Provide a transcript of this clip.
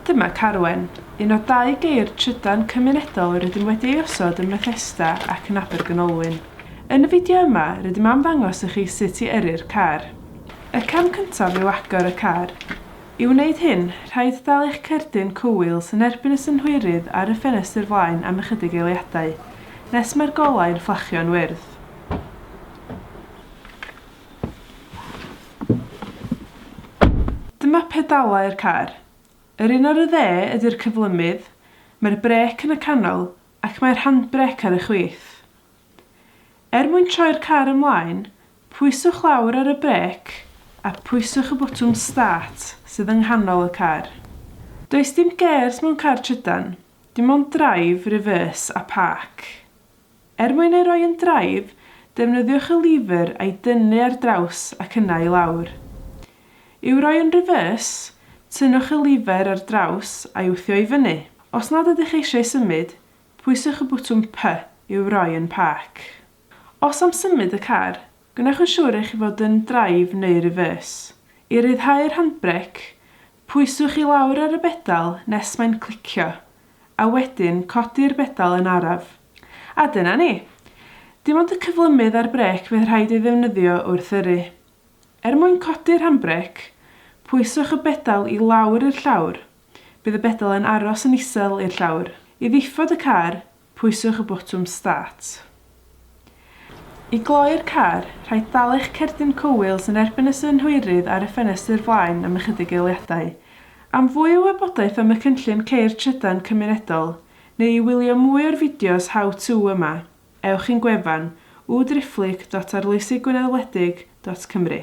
Dyma Carwen, un o dau geir trydan cymunedol rydym wedi ei osod ym Methesda ac yn Abergynolwyn. Yn y fideo yma, rydym am ddangos i chi sut i yrru'r car. Y cam cyntaf yw agor y car. I wneud hyn, rhaid dal eich cerdyn cowheels yn erbyn y synhwyrydd ar y ffenestr flaen am ychydig eiliadau, nes mae'r golau'n fflachio'n wyrdd. Dyma pedalau'r car. Yr un ar y dde ydy'r cyflymudd, mae'r brêc yn y canol ac mae'r handbrêc ar y chwith. Er mwyn troi'r car ymlaen, pwyswch lawr ar y brêc a phwyswch y botwm 'start' sydd yng nghanol y car. Does dim gêrs mewn car trydan, dim ond 'drive', 'reverse' a 'park'. Er mwyn ei roi yn draed, defnyddiwch y lever a'i dynnu ar draws ac yna i lawr. I'w roi yn reverse, tynnwch y lever ar draws a'i wthio i fyny. Os nad ydych eisiau symud, pwyswch y botwm P i'w roi yn park. Os am symud y car, gwnewch yn siŵr eich fod yn drive neu reverse. I ryddhau'r handbrêc, pwyswch i lawr ar y bedal nes mae'n clicio, a wedyn codi'r bedal yn araf. A dyna ni! Dim ond y cyflymudd a'r brêc fydd rhaid ei ddefnyddio wrth yrru. Er mwyn codi'r handbrêc, pwyswch y bedal i lawr i'r llawr, bydd y bedal yn aros yn isel i'r llawr. I ddifod y car, pwyswch y botwm 'Start'. I gloi'r car, rhaid dal eich cerdyn cywir yn erbyn y synhwyrydd ar y ffenestr flaen am ychydig eiliadau. Am fwy o wybodaeth am y cynllun Ceir Trydan Cymunedol, neu i wylio mwy o'r fideos How To yma, ewch i'n gwefan, www.arloesigwynedwledig.cymru.